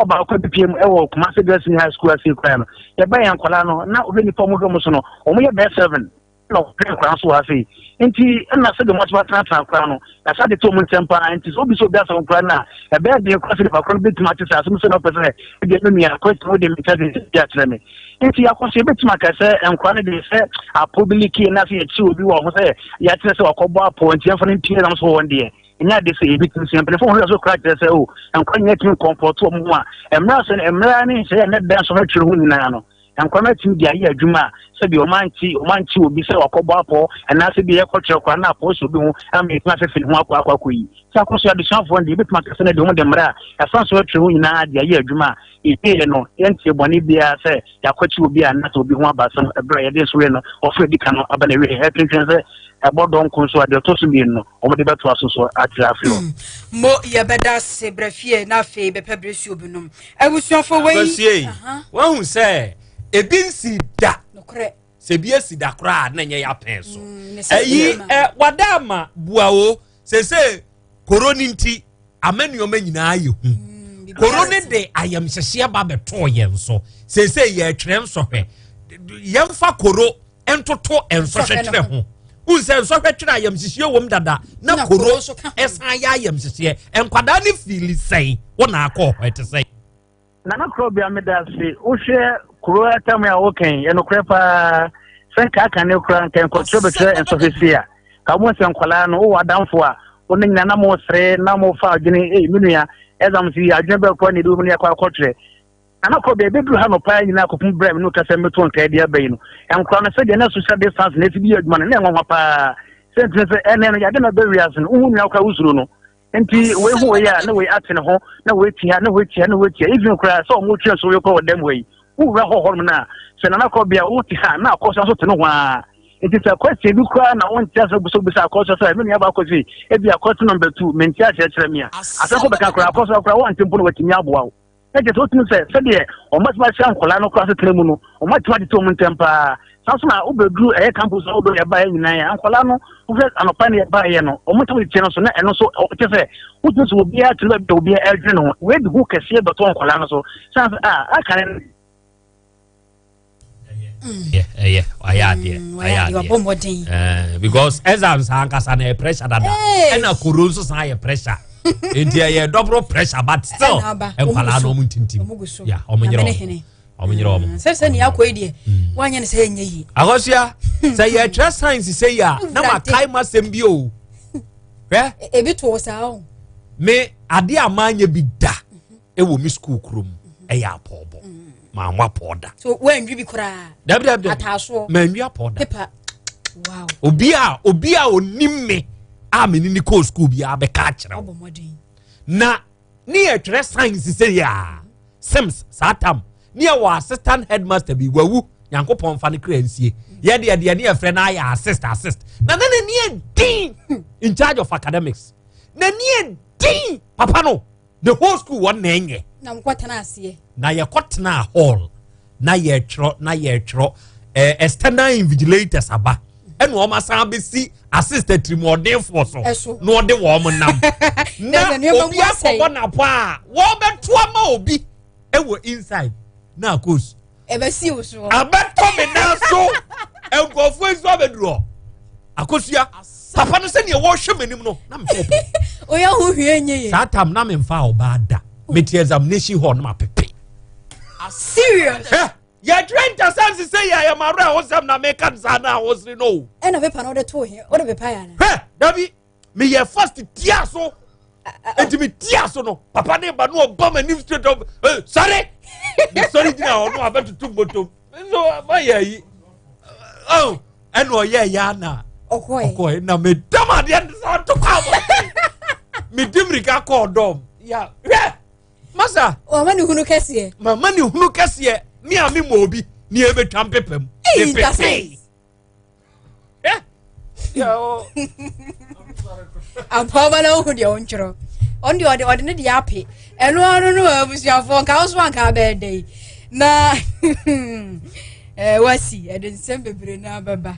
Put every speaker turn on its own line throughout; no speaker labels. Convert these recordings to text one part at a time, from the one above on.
ɔbaa kɔ bepia mu ɛwɔ Kumasi Girls Senior High School ase kura no yɛbɛn yɛn nkwadaa no na ɔbɛ nipa ɔmo hwɛ mo so no ɔmo yɛ bɛɛ seven na ɔhwɛ nkwadaa so wɔ ase nti ɛna sɛ de mo asoma tena tena kura no yasa de to ɔmo nsɛm paa nti sɛ obi sɛ obi asɛm nkwadaa no a ɛbɛyɛ den kura sɛ nipa kura no betuma ate sɛ asɛm sɛ na ɔpɛ sɛ ebi ɛmɛ nua kwesi mo de mi kyɛ de bi akyerɛ mi nti akɔso ebetuma kɛ sɛ nkwadaa no de sɛ apɔ bi like na sɛ yɛkyi obi wɔ ho sɛ yɛakyerɛ sɛ wakɔbɔ apɔ nti yɛn fɔ ne mpie nam so wɔn deɛ ɛnyɛ ade sɛ ebi tumi sua mpanyinfo wɔn werɛ so kora kyerɛ sɛ o nkwa nyɛ tumi kɔmpɔto wɔn ho a mmerɛ sɛ mmerɛ ne nhyɛ yɛ ne dan so hwɛtwerɛ ho nyinaa no nkwa no atumi de ayɛ adwuma a sɛbi wɔn ankye wɔn ankye obi sɛ wakɔbɔ apɔ anaasɛ bi yɛkɔ kyerɛ kora na apɔ so bi ho ama ɛtumi afɛfɛ ne ho akɔ akɔ akɔ yi sɛ akɔ so adesuafoɔ no deɛ ebɛtumi akɛsɛ no de wɔn de mmerɛ a ɛfa so hwɛtwerɛ ho nyinaa de ayɛ adwuma a Yɛyɛ no, yɛntee bɔne biara sɛ yɛakwati obi anaasɛ obi ho aba asɛm bere a yɛde nsowe no ɔforo a edi kan no aba n'awiei. Yɛtwentwɛn sɛ ɛbɔ dɔn ko nso a, deɛ ɔtɔ so mmienu no, wɔde bɛtoa so so akyerɛ afei hɔ. Mo
yɛbɛda ase brɛ fie na afei bɛpɛ bere suo bi nom. Abusuafo wei. Abasua yi, woahu sɛ
ebi nsii da. Nokorɛ. sɛ bi
asi da
koraa a na nyɛ yɛapɛn so ɛyi mm, ɛ wada ama bua o sese koro ne nti ama nneɛma nyinaa yɛ hu mm, koro ne de ayamhyehyeɛ ba bɛtoo yɛn so sese yɛretwerɛ nsɔhwɛ yɛmfa koro ntoto nsɔhwɛ twerɛ ho nsɛ nsɔhwɛ twerɛ ayamhyehyeɛ wɔm dada na koro ɛsan yɛ ayamhyehyeɛ nkwadaa ne fiili sɛn wɔn akɔ hɔ ɛte sɛn. Nana
Korɔbea medase wohwɛ kuro atam a wokan yɛ nokorɛ paa sɛ nka aka ne kora nka nkɔkyerɛ bɛkyerɛ nsɔhwɛ si a ka mo sɛ nkwadaa no wowɔ adamfo a wo ne nyina na mo sere na mo fa adwene ei me nua ɛzam si adwene bɛrɛ kora ne ebi mu ne akɔ akɔkyerɛ Nana Korɔbea ebeduru ha no paa nyina akɔpem brɛ me no kasa meto nkae de aba yi no nkora no sɛdeɛ na social distance na ɛsi bi yɛ adwuma no na ɛnwanwa paa sɛ ntini sɛ ɛnɛ no yɛade na bɛ wiase no wohu nua kora wosuro no Nti wei ho wei a na wei ate ne ho na wei ti ha na wei ti ha na wei ti ha even koraa sɛ ɔmo twɛn so wei kɔ wɔ dɛm hɔ yi wowura hɔ hɔnom no a sɛ nana kɔ bia wo te ha na akɔsua so te no ho a nti sɛ kwɛsɛ bi koraa na wonte ase buso bisa akɔsua sɛ me nua baako se ebi akɔte nɔmba tu mente aseɛ kyerɛ me a asɛ kɔ bɛka koraa akɔsua koraa wante mpo na watumi aboa wo na kyerɛ sɛ wotumi sɛ sɛdeɛ wɔbɛtumi ahyɛ nkwadaa no kora asetena mu no wɔatumi atete wɔn ntɛm paa saa so na wobɛduru ɛyɛ campus a wobɛ yɛbaeɛ nyinaa yɛ nkwadaa no wohwɛ anɔpa ne yɛbaeɛ no wɔtumi de kyerɛ no so na ɛno so kyɛ sɛ wotumi sɛ obiara tiri baabi a obiara adwene no ho wei de ho kɛseɛ bɛtɔ nkwadaa no so sane sɛ a aka ne ɛyɛ ayɛ adeɛ
ayɛ adeɛ because exams ankasa na yɛ pressure dada ɛna koro nso san yɛ pressure nti ɛyɛ double pressure but still nkwadaa na ɔmo ntintim ya ɔmo nyerɛ ɔmo ɔmo nyerɛ ɔmo. sɛ sɛ nea
akɔ yi deɛ wanyɛ ne sɛ yɛ nyɛ yi. akɔsua sɛ
yɛ twɛ science sɛ yi a na ma kae ma sɛm bi o.
ebi to o saa o. me
adeɛ a maa nyɛ bi da. ɛwɔ me sukuu kuro mu ɛyɛ apɔɔbɔ maa mo apɔɔ da. so wɔn bi koraa.
dabi dabi dabi ataasoɔ
maa nwi
apɔɔ da. pepa wow. obi a obi
a onim me a me ni ni kɔɔ sukuu bi a bɛka akyerɛ o. ɔbɔ mɔden. na ne yɛ twerɛ science sɛ yɛ a sims saa tam ne yɛ wɔ assistant headmaster bi wawu nyankopɔn nfa ne kura nsie yɛ deɛ deɛ ne yɛ frɛ no ayɛ assist assist na na ne ne yɛ din in charge of academics na ne yɛ din papa no. the whole school wɔn na ɛnyɛ. na nkɔ tena aseɛ.
na yɛkɔ tena
hall na yɛtwerɛ na yɛtwerɛ ɛɛ external invigilators aba ɛna wɔn asan abɛsi assist atirimuɔdenfoɔ so na wɔde wɔn nam na obi akɔbɔ n'apɔ a wɔbɛto ama obi ɛwɔ inside na akos. ɛbɛsi wo so
ɛbɛtɔ me nan
so nkurɔfoɔ nso abɛduru hɔ akosua papa no sɛdeɛ wɔhwɛ m'anim no na mepɛ ɔpɛ oyɛ ho hwie
nye ye saa tam na memfa
ɔbaa da mete examination hall no mapepe
serious Hɛ, yɛtwerɛ
ntasɛm se sɛ yɛ yɛmawerɛ hosɛm na meka no saa na ahosere no o ɛna pepa no wode too
he wode pepa yɛ ana hwɛ dabi
meyɛ fast tia so nti me tia so no papa ne ba no ɔba ma nim straight up eh, sɔre sɔre gyina hɔ no abɛtoto bɔtɔm nso mayɛ yi oh, ɛna ɔyɛ ɛyɛ ana ɔkɔɛ na medam adeɛ no sa to kɔ abɔ medi mmirika kɔɔ dɔm ya hwɛ masa mama ne hunu
kɛseɛ mama ne hunu kɛseɛ
me a me ma obi ne ɛbɛtwa mpepam mepepee
ampaaba na wohu deɛ wontwerɛ ɔno deɛ ɔde ɔde ne deɛ ape ɛno ano no abusuafoɔ nka wo so anka bɛɛ dɛ yi na eh, wasi ɛde nsɛm bebree no abɛba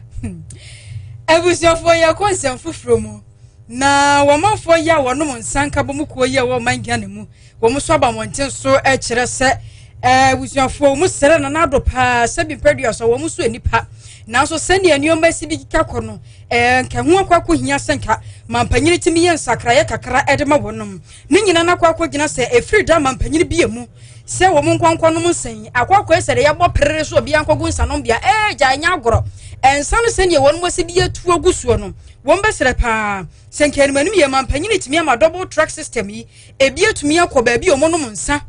abusuafoɔ yɛkɔ nsɛm foforɔ mu na wɔmanfoɔ yi a wɔnom nsa nka bɔ mu kuo yi a wɔma ngyane mu Wɔn nso aba mmɔnten so kyerɛ sɛ eh, abusuafoɔ wɔn srɛ na n'ado paa sɛ bi mpɛ dua sɔ wɔn nso nnipa nanso sɛnea nneɛma si de kika kɔ no eh, nka ho akɔ akɔ hia sɛ nka mampanyini tumi yɛ nsakraeɛ kakra de ma wɔnom ne nyina no akɔ akɔ gyina sɛ ɛfiri da mampanyini bie mu sɛ wɔn nkɔnkɔ nom nsa yi akɔ akɔ yɛ sɛ de yɛbɔ perere so obi ankɔgu nsa nom bia eh, gya nyɛ agorɔ ɛnsa no sɛnea wɔn mo si de yɛ tuo gu soɔ no wɔn bɛsrɛ paa sɛ nka anim anim yɛ mampanyini tumi ama double track system yi Ebi atumi akɔ baabi a wɔnom nsa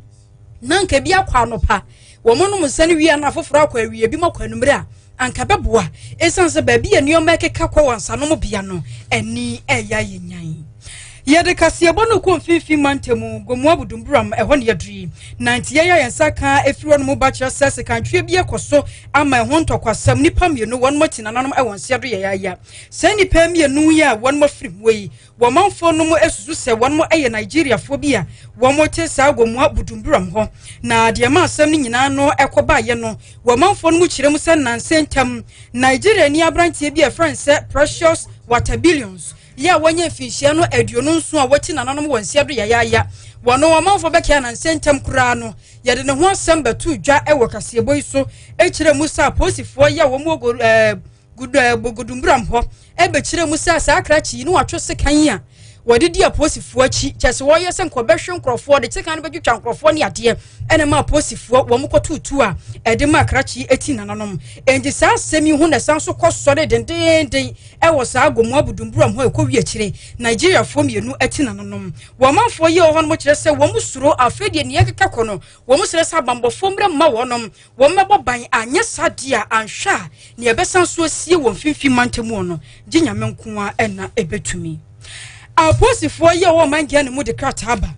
na anka ebi akɔ anɔpa wɔnom nsa no wie na afoforɔ akɔ awie ebi akɔ anumere a anka bɛboa esiane sɛ baabi a nneɛma ɛkeka kɔ wɔ nsanom bea no ani ɛyɛ ayɛ nyan. Yɛde kaseɛbɔ no kɔ mfimfini mantam Gomoa Budumburam ɛhɔ ne yɛduru yi na nti yɛn a yɛn nsa ka efiri hɔ nom ba kyerɛ sɛ sekantwie bi ɛkɔ so ama ɛho ntɔkwasɛm nnipa mmienu wɔn ati nananom ɛwɔ nseɛ do yɛyaaya saa nnipa mmienu yi a wɔn afiri mu yi Wɔ manfoɔ no mu susu sɛ wɔnom yɛ Nigeriafoɔ bi a wɔnom te saa wɔ mua Budumburam hɔ. Na deɛ ɛma asɛm no nyinaa no ɛkɔ baayɛ no, wɔ manfoɔ no mu kyerɛ mu sɛ nansa ntam, Nigeriani abranteɛ bi a ɛfrɛ no sɛ Precious Watabillions yɛ a wɔnyɛ mfinhyia no aduonu nson a wɔte nananom wɔ nsia do yayaaya. Wɔnom wɔ manfoɔ bɛkɛɛ a nansa ntam koraa no yɛde ne ho asɛm bɛtoo dwa wɔ kaseɛbɔ yi so kyerɛ mu sɛ apolisifoɔ yi a wɔn wɔ ɛɛ. Gudumbram hɔ bɛkyerɛ mu sɛ saa krakye yi ne wɔatwe sekan yi a wɔde di apolisifoɔ akyi kyɛ sɛ wɔyɛ sɛ nkɔbɛhwe nkurɔfoɔ de sekan no bɛtwitwa nkurɔfoɔ ne adeɛ ɛna ma apolisifoɔ wɔn kɔtutu a ɛde ma krakye yi ati nananom enti saa asɛm yi ho na ɛsan so kɔ sɔre dendeenden ɛwɔ saa agomoa budumburam hɔ ɛkɔ wi akyire nigeriafoɔ mmienu ati nananom wɔn manfoɔ yi wɔ hɔ no kyerɛ sɛ wɔn suro afei deɛ nea ɛkeka kɔ no wɔn srɛ sɛ abambɔfoɔ mmerɛ mma wɔnom Wɔmmɛbɔ ban, anyɛ saa deɛ a, anhwɛ a nea ɛbɛsan nso asie wɔ Mfimfini Mantam hɔ no, gye Nyame nko ara na ɛbɛtumi. Apolisifoɔ yi a wɔwɔ ɔman Ghana mu de krataa aba,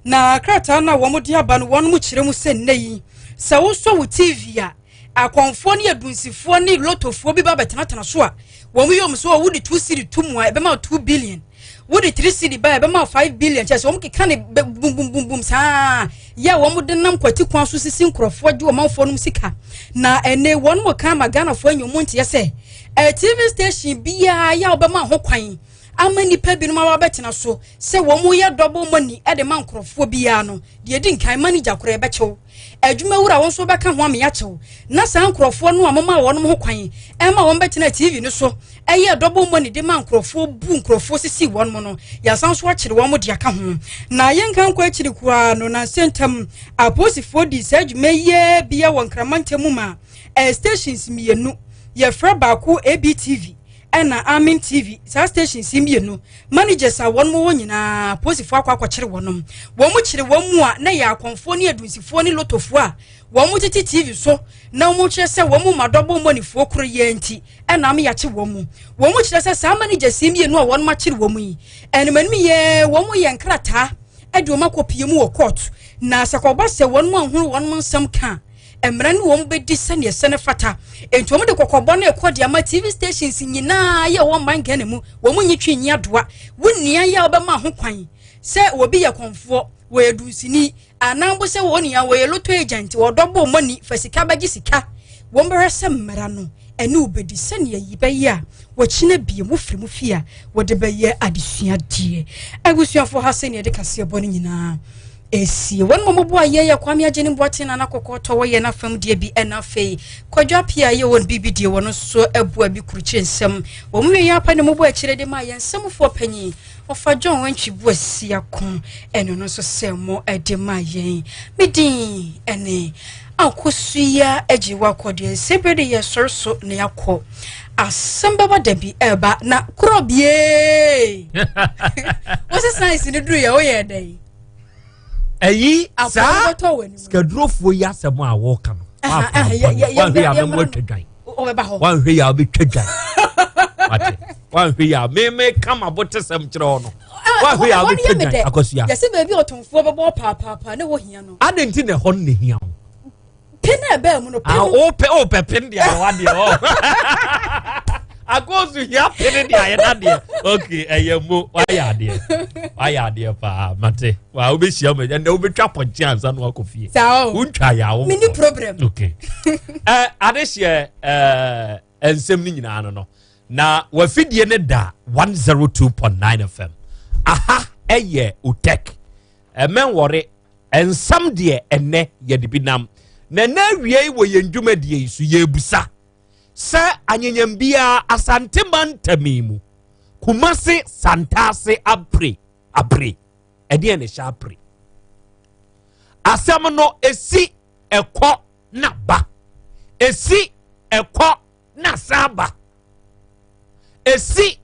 na krataa no a wɔde aba no, wɔn mo kyerɛ mu sɛ nnɛ yi, sɛ wosɔ wo TV a, akɔmfoɔ ne adunsifoɔ ne lotofoɔ bi ba bɛtenatena so a, wɔn yɛ wɔn so wɔ wode two cd to mu a ɛbɛma wo two billion wode three cd ba a ɛbɛma wo five billion kyɛ sɛ wɔn keka ne bumbumbum saa yɛ a wɔn de nam kwati kwan so sisi nkurɔfoɔ gye ɔmanfoɔ nom sika na ɛnɛ wɔn mo kan ma ghanafoɔ anya wɔn nteɛ sɛ ɛɛ eh, tv station biara yɛ a wɔbɛma ho kwan ama nnipa binom a wɔabɛtena so sɛ wɔn yɛ double money de ma nkurɔfoɔ biara no deɛ di nkan manager korɔ ɛbɛkyɛw Adwumawura, wo nso wobɛka ho ama yɛakye wo. Ná saa nkurɔfoɔ no a momaa wɔn ho kwan ma wɔbɛtenaa TV no so yɛɛ dɔbɔ mmɔne de maa nkurɔfoɔ, buu nkurɔfoɔ, sisii wɔn no. Yɛasan nso akyere wɔn de aka ho. Na yɛnka nkɔ akyiri koraa no, nnansa ntam, apolisifoɔ dii saa dwuma yi ara bi wɔ Nkraman ntam maa ɛyɛ stations mmienu. Yɛfrɛ baako ABTV. ɛna amen tv saa stations yi mmienu managers a wɔn wɔ nyinaa posifoɔ akɔ akɔkyere wɔnom wɔn mu kyere wɔn mu a na yɛ akɔnfoɔ ne adunsifoɔ ne lotofoɔ a wɔn mo tete tv so na wɔn kyerɛ sɛ wɔn mu ma dɔbɔ mmɔnifoɔ koro yɛ nti ɛna ama yɛakye wɔn mu wɔn mu kyerɛ sɛ saa managers yi mmienu a wɔn akyere wɔn yi ɛnimanim yɛ wɔn yɛ nkrataa ɛde wɔn akɔ pie mu wɔ court na sɛ kɔba sɛ wɔn mu ahoro wɔn nsɛm ka mmara no wɔn bɛdi sɛdeɛ ɛsɛ no fata nti wɔn de kɔkɔbɔ no ɛkɔ de ama tv stations nyinaa yɛ wɔn man ghana mu wɔn nyi twi nyi adoa wo nua yɛ a wɔbɛma ho kwan sɛ wɔbi yɛ kɔnfoɔ wɔyɛ dunsini anaa bo sɛ wɔn nua wɔyɛ loto agent wɔdɔ bo mɔni fɛ sika bɛgye sika wɔn bɛhwɛ sɛ mmara no ɛne wɔbɛdi sɛdeɛ yi bɛyɛ a wɔkyena bie mu firi mu fie a wɔde bɛyɛ adesuadeɛ abusuafoɔ ha sɛdeɛ ɛde kaseɛ bɔ no nyinaa Esie, wɔn mmom boa yɛn yɛ Kwame Agyenim Boateng Nana Kɔkɔɔ tɔ wɔ yɛn afam deɛ bi ɛna afei Kwadwo Appiah a yɛ wɔn biribi deɛ wɔn nso boa bi kurukyire nsɛm wɔn mu wieɛ apa ne mmobɔ akyire de maa yɛn nsɛmfoɔ panyin Ɔfa John Antwi Boasiako ɛno no nso sɛ mo ɛde maa yɛn me din ɛne Akosua Agyiwa Kɔdeɛ sɛ bere de yɛ sɔre so na yɛakɔ asɛm bɛba da bi ɛba na korɔ biee wosɛ science ne duru yɛ woyɛ dɛn
ɛyi saa sikadurofoɔ yi asɛm a wɔreka no wanhwɛ yà mɛmu atwa dwan wanhwɛ yà ɔbɛtwa dwan wate wanhwɛ yà mɛmɛ kama bɔ tẹsɛm kyerɛ hɔ no wanhwɛ yà ɔbɛtwa dwan akɔsua. yɛsɛ baabi ɔtɔnfoɔ
bɛbɔ paapaapa ne wɔ hia no. adan ti na ɛhɔ no na ehia
ho. pɛ na
ɛbɛɛ mu no pɛ ah, mu. wopɛ wopɛ pem
deɛ na wadeɛ ɔ akɔɔso hia pene deɛ ayɛ nadeɛ ok ɛyɛ mo wayɛ adeɛ wayɛ adeɛ paa mate wa wobɛhyia mu ɛnɛ wobɛtwa pɔnkye ansa no wakɔ fie wontwa yɛ awo mene problem ok
uh,
adehyeɛ uh, nsɛm no nyinaa no no na wafidie no da 102.9 fm aha ɛyɛ utec ɛmɛnwɔre nsɛm deɛ ɛnɛ yɛde bi nam na ɛnɛ awiei wɔ yɛn dwumadie yi so yɛbusa sɛ anyanyam biara asante mantami mu kumase santaase apre apre ɛdeɛ ne hyɛ apre asɛm no ɛsi ɛkɔ na ba ɛsi ɛkɔ na san ba ɛsi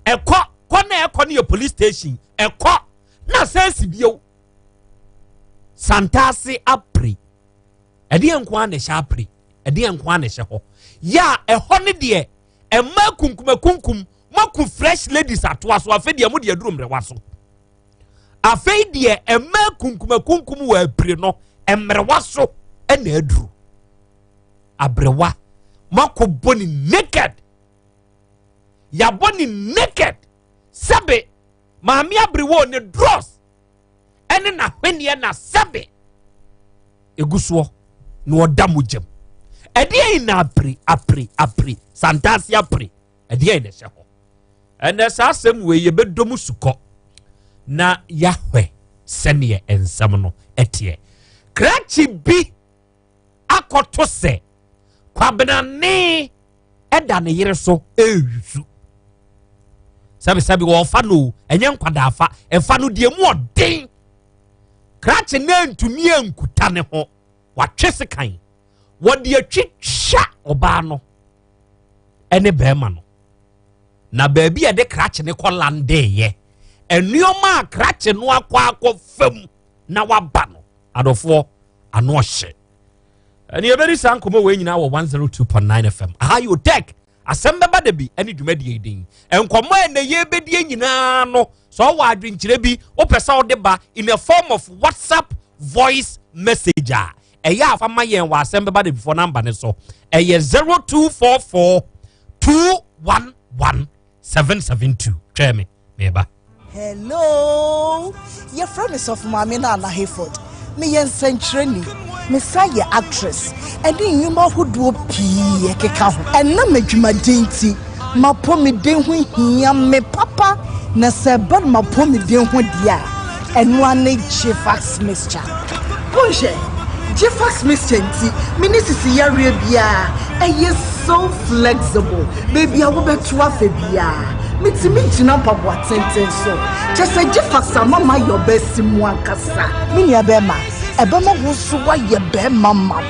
ɛkɔ kɔ na ɛkɔ no yɛ police station ɛkɔ na san si bio santaase apere ɛdeɛ nko ara na ɛhyɛ apere ɛdeɛ nko ara na ɛhyɛ hɔ yɛ a ɛhɔ no deɛ ɛma kunkumakunkum moaku fresh ladies atoa so afei deɛ mo deɛ aduru mmerɛwa so afei deɛ ɛmaa kunkumakunkum wɔ apire no mmerewa so na aduru aberewa moakɔbɔ ne naked yɛabɔ ne naked sɛbe maame aberewa ne dros ɛne n'ahweneɛ na sɛbe ɛgu soɔ na ɔda mogyam ɛdeɛ yi na apere apere apere santaase apere ɛdeɛn na ɛhyɛ hɔ ɛnɛ saa asɛm wei yɛbɛdɔ mu sukɔ na yɛahwɛ sɛneɛ nsɛm no ɛteɛ krakye bi akɔto sɛ kwabenane ɛda ne yere so ɛresu sɛbisɛbi wɔfa no ɛnyɛ nkwadaafa ɛfa no deɛ mu ɔden krakye no antumi ankuta ne ho watwe sekan wɔde atwitwa ɔbaa no ne bɛrima no na baabi a yɛde krakye no kɔ landeeɛ nneɛma a krakye no akɔ akɔ fam na waba no adɔfoɔ ano ɔhyɛ ɛne yɛbɛdi saa nkɔmmɔ wei nyinaa wɔ 102.9 fm aha yɛ otɛk asɛm bɛba da bi ɛne dwumadie din nkɔmmɔ a ɛnɛ yɛbɛdie nyinaa no sɛ ɔwɔ adwenkyerɛ bi wopɛ sɛ wode ba in a form of whatsapp voice message a ɛyɛ afa ma yɛn wɔ asɛm bɛba debifoɔ namba ne so ɛyɛ 0244 211 772 twɛɛ me meba hello
yɛfrɛ me sɔfo maame no ana hayford meyɛ nsɛnkyerɛni mesan yɛ actress ɛne nnwuma ahodoɔ pii ɛkeka ho ɛnam adwumaden nti M'apɔmuden ho hia me papa, na sɛ ɛba no m'apɔmuden ho deɛ a, ɛno ara ne Gffax mixture. Monhwɛ, Gffax mixture nti, me ne sisi yareɛ biara, ɛyɛ so flexible, baabi a wobɛto afa biara, metumi gyina mpaboa tenten so. Kyerɛ sɛ Gffax ama mayɛ ɔbaasi mu ankasa. Me nuabɛɛma, ɛbɛma wo nso woayɛ bɛɛma ma.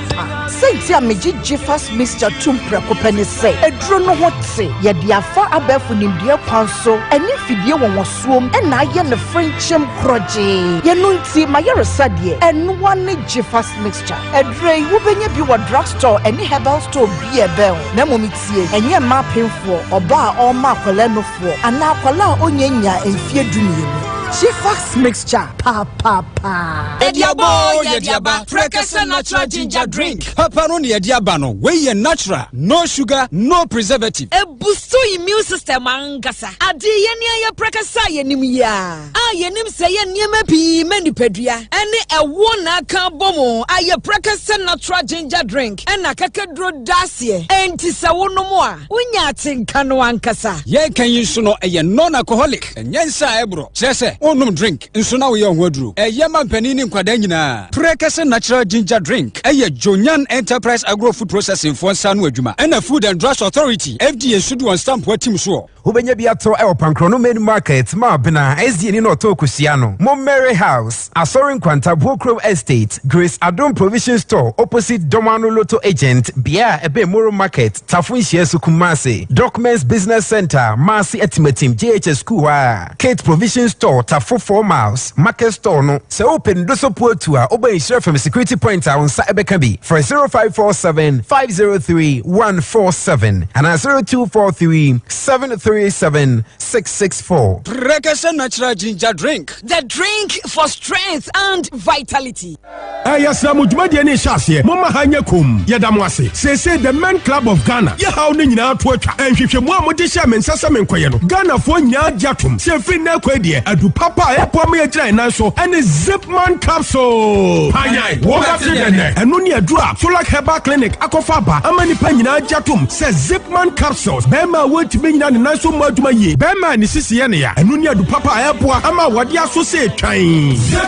Saintsir a megye Jifas Mixture tum prɛko pɛ ne sɛ eduro no ho tse, yɛde afa abɛɛfo nimdeɛ kwan so ne mfidie nwonwasoɔm na ayɛ no frenkyem korɔgyee. Yɛno nti m'ayaresa deɛ ɛnoa ne Jifas Mixture. Aduro yi wobɛnya bi wɔ drug store ne herbal store biaa ɛbɛn wo. Na mmom tie, ɛnyɛ mmaa apemfoɔ, ɔbaa a ɔrema akwadaa nufu, Wɔ anaa akwadaa a ɔnyɛ nyaa mfeɛ du mmienu. Shifax mixture paapaa. Ɛdiabɔ yɛ
diaba prɛkɛsɛ natural ginger drink. Papa no ne ɛdiaba no wei yɛ natural no sugar no preservative. Ɛbusu
immune system ankasa. Adeɛ yɛn a yɛ prɛkɛsɛ a yɛnim yi a a yɛnim sɛ yɛ nneɛma pii ma nipadua ɛne ɛwoɔ na aka bɔ mu ayɛ prɛkɛsɛ natural ginger drink ɛna kakaduro da aseɛ ɛnti sɛ wonom a. Wonya atenka no ankasa. Yɛreka yi nso no,
ɛyɛ non-alcoholic, ɛnyɛ nsa a ɛboro, kyerɛ sɛ wonnom drink nso na woyɛ wo ho aduro. Ɛyɛ ma mpanin ne nkwadaa nyinaa. Prekese Natural Ginger Drink yɛ Jonyan Enterprise Agro Food Processing foɔ nsa ano adwuma ɛna Food and Drugs Authority, FDA, nso de wɔn stampo atim soɔ. Wobɛnya bi atɔ wɔ
Pankrɔno Main Market, Maabena, SDA ni na ɔtɔn kosua no, Mommere House, Asɔre Nkwanta, Bookroom Estate, Grace Adom Provision Store opposite Dɔmano Lotto Agent, bea a ɛbɛn Moro Market, Tafo Nhyiaso Kumasi, Documents Business Center, Maase Atimatim JHS Sukuu hɔ a, Kate Provision Store, Tafo Four Miles, Market Store no. Sɛ wopɛ ne doso puo tu a, woba Nhyira Fam Security Point a wo nsa ɛbɛka bi. Frɛ 0547 503 147 anaa 0243 737 664. Brekese Natural
Ginger
Drink.
The
drink
for strength
and
vitality. Eh,
yɛsrɛ mo dwumadie no rehyɛ aseɛ, momma ha nyɛ komm. Yɛda mo ase. Seesei The Men Club of Ghana yɛ haw no nyinaa to atwa. Nhwehwɛmu a mogye hyɛɛ me nsa sɛ menkɔyɛ no, Ghanafoɔ nyinaa agye atom sɛ ɛfiri nnɛ rekɔ yi deɛ, adu papa a ɛboa ma yɛgyina yɛn nan so ne Zipman Capsule. Panyan, wobɛte dɛn? Ɛno ne aduro a Solak Herbal Clinic akɔfa aba ama nnipa nyinaa agye atom sɛ Zipman Capsules, barima a wɔntumi nnyina ne nan so mmɔ adwuma yie, barima a ne sisi yɛ no ya, ɛno ne adu papa a ɛboa ama awadeɛ aso sɛ ɛtwan.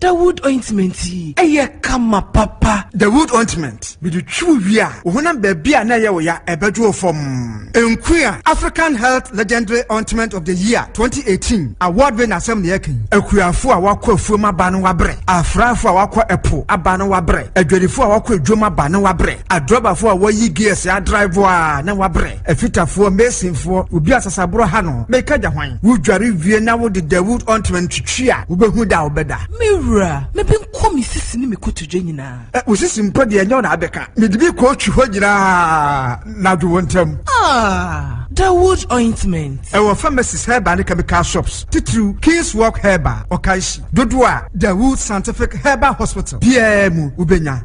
Dawud ointment yi yɛ kama papa. Dawud ointment,
mede twi wo wie a, wo honam baabi a na ɛyɛ wo ya ɛbɛdwo wo fam. Nkua, African Health Legendary Ointment of the Year 2018 award winner asɛm na yɛka yi. Akuafo a wɔakɔ afuom aba no wabrɛ, afraafo a wɔakɔ ɛpo aba no wabrɛ, adwadifo a wɔakɔ adwam aba no wabrɛ, adrɔbafo a wɔayi gears adrive a na wabrɛ. Afitafoɔ, Masonfoɔ, obi a sasaborɔ ha no, meka gya hwan? Wodware wie na wode Dawud ɔntoma no twitwi a, wobɛhu da a wobɛda. Me wura,
mebɛnkɔ me sisi ne me kotodwe nyinaa. Ɛ, wo sisi mpo deɛ,
ɛnyɛ wo na abɛka. Mede bi kɔtwi hɔ nyinaa na adwo wo ntam. Ah,
Dawud ointment. Ɛwɔ pharmacies
herbal ne chemical shops, titiriw King's Walk Herbal, Ɔkanhyi, dodoɔ a Dawud Scientific Herbal Hospital biara mu wobɛnya.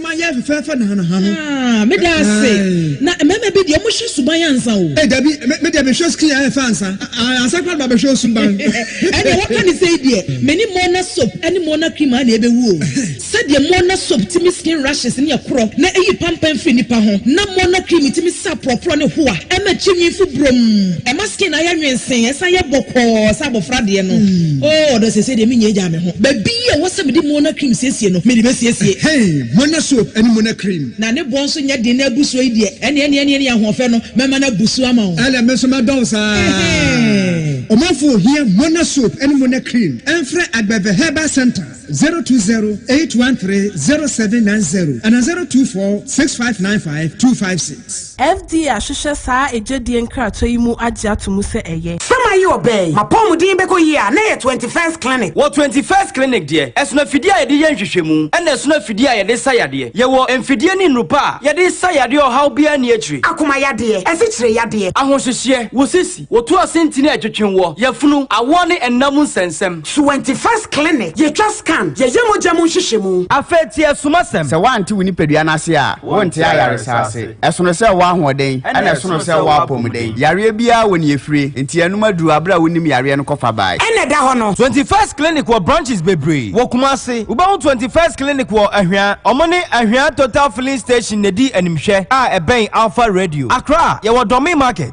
Ma yɛ fefɛɛfɛ na na ha no. Ah, me da ase.
Na mmarima bi deɛ wɔn hwɛ suban ansa o. Ee dabi, me me deɛ me hwɛ
screen a ɛfɛ ansa. Ah, ansa kora na ba bɛ hwɛ osuban. Ɛdeɛ waka ne
sɛi deɛ, me ne Morna soap ɛne Morna cream a na ɛbɛ wu o. Sɛdeɛ Morna soap timi skin rashes ne ɛkorɔ na ɛyi pampan firi nipa ho, na Morna cream timi sa aporɔporɔ ne hoa ɛma kyi nwi fo brom. Ɛma skin no ayɛ nwensee, ɛsan yɛ bɔkɔɔ sɛ abɔfra deɛ no. Oh, ɔdɔ sɛsɛi deɛ me nya agya me. ho. Baabi a ɛwɔ sɛ mede Mona cream siesie no, mede bɛsiesie. Hei, Mona soap ne Mona cream. Na ne boɔ nso nyɛ den na abu so yi deɛ. Ɛne, ɛne, ɛne, ɛne ahoɔfɛ no, mɛma no abu so ama wo. Ɛne, me nso mɛdɔ wo
saa. Ɛhɛɛ. Ɔmanfoɔ ohia Mona soap ne Mona cream, ɛmfrɛ Agbɛvɛ Herbal Centre, zero two zero eight one three zero seven nine zero anaa zero two four six five nine five two five six. Christ. FDA ahwehwɛ
saa agyedie nkratoɔ yi mu agye ato mu sɛ ɛyɛ. Sɛ mayɛ ɔbaa yi,
m'apɔmuden bɛkɔ yie a, na ɛyɛ Twenty First Clinic. Wɔ Twenty First Clinic
deɛ, ɛsono afidie a yɛde yɛ nhwehwɛmu, ɛna ɛsono afidie a yɛde sa yadeɛ. Yɛwɔ mfidie ne nnuru pa a yɛde sa yadeɛ a ɔhaw biara nni akyire. Akoma yadeɛ,
asikyire yadeɛ. Ahohyehyeɛ, wo sisi.
Wɔtu ase ntini a ɛtwetwe wɔ, yafunu, awɔ ne nna mu nsɛnsɛm. Suwɛnti First Clinic,
Yɛtwa scan, yɛyɛ mogya mu nhyehyɛmu. Afei tie asumasɛm.
Sɛ woante wo nipadua
no ase a, wonte ayaresa ase. Ɛsono sɛ wowɔ ahoɔden, ɛnna ɛsono sɛ wowɔ apɔmuden. Yareɛ biara wɔ nea ɛfirie, enti yɛanom aduru aberɛ a wonim yareɛ no kɔfa bae. Ɛnna ɛda hɔ no. Twenty
First Clinic wɔ
branches bebree wɔ Kumasi. Wobɛhu Twenty First Clinic wɔ Ahwea. Wɔn ne Ahwea Total Filling Station na ɛdi animhwɛ a ɛbɛn Alfa Radio. Accra, yɛwɔ Dormey Market.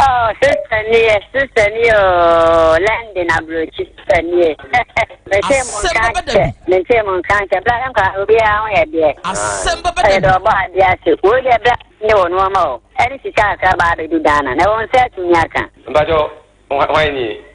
Oh sister
nie sister nie ooo London aburokyi sister nie. Mese mo Asɛm nka bɛba da nkyɛ bi. mese mo nka nkyɛ bla yɛn kora obiara ho yɛ deɛ. Asɛm bɛba da Ɛyɛ dɛ
bi. ɔbɔ adeɛ ase
wei deɛ bla ne wɔ nneɛma o ɛne sika akra baa bɛdu Ghana na ɛwɔ nsa atumi aka. Mpakyɛw hwan nie?